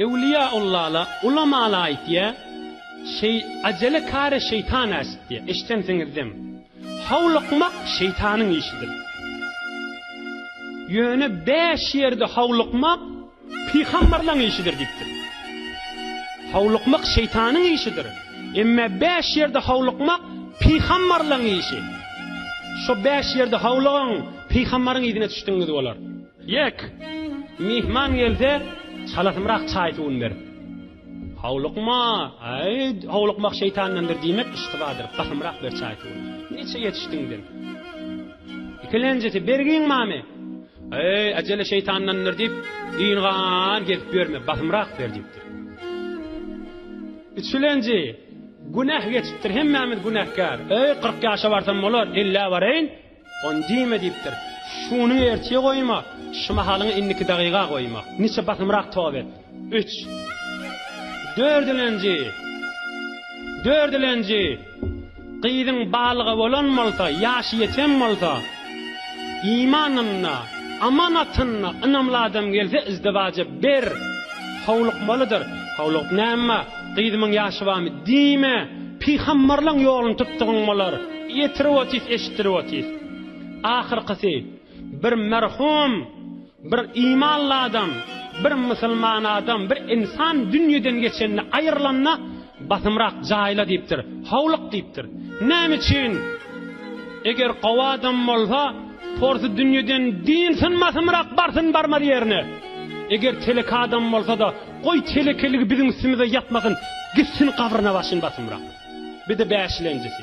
Ewliýa Ullala ulamala aýtýa, Şeý ajele kare şeýtan äşitýä, eşidensiňizdem. Howlukmak şeýtanyň işidir. Ýöne bäş ýerde howlukmak pygamberlaň işidir diýipdir. Howlukmak şeýtanyň işidir. Emme bäş ýerde howlukmak pygamberlaň işi. Şo bäş ýerde howlugyň pygamberyň yzyna çüşdigiňiz bolar. Ýek, myhman gelse, çalasymrak çaý-suwuny ber. Howlukma, äý, howlukmak şeýtandandyr diýmek yştybadyr, basymrak ber çaý-suwuny. Niçe ýetişdiň sen? Ikilenjesi, Bergin mame! Äý, äjele şeýtandandyr diýip, ýyngam gezip ýörme, basymrak ber diýipdir. Üçülenji, Günäh geçipdir, hemmämiz günäkär. Äý, kyrk ýaşa barsam bolar, ellä baraýyn. On diýme diýipdir. Şuny ertire goýma, şu mahalyňy indiki dagyga goýma. Niçe basymrak tob et. Üç. Dördülenji. Dördülenji. Gyzyň balyga bolan bolsa, ýaşy ýeten bolsa, imanyna, amanatyna ynamly adam gelse, izdiwaja ber. Howlukmalydyr. Howlugyp näme? Gyzymyň ýaşy barmy? Diýme, pygamberleň ýoluny tutdugyň bolar. Ýetirip otys, eşitdirip otys. Ahyrkysy, bir merhum, bir imanly adam, bir musulman adam, bir insan dünýeden geçende, aýrylanda, Basymrak jaýla diýipdir, howluk diýipdir. Näme üçin? Eger gowy adam bolsa, porsy dünýeden diýilsin, Basymrak barsyn barmaz ýerine. Eger telek adam bolsa-da, Goý telekeligi biziň üstümize ýapmasyn gitsin gabryna başyn basymrak. Bide bäşilenjisi.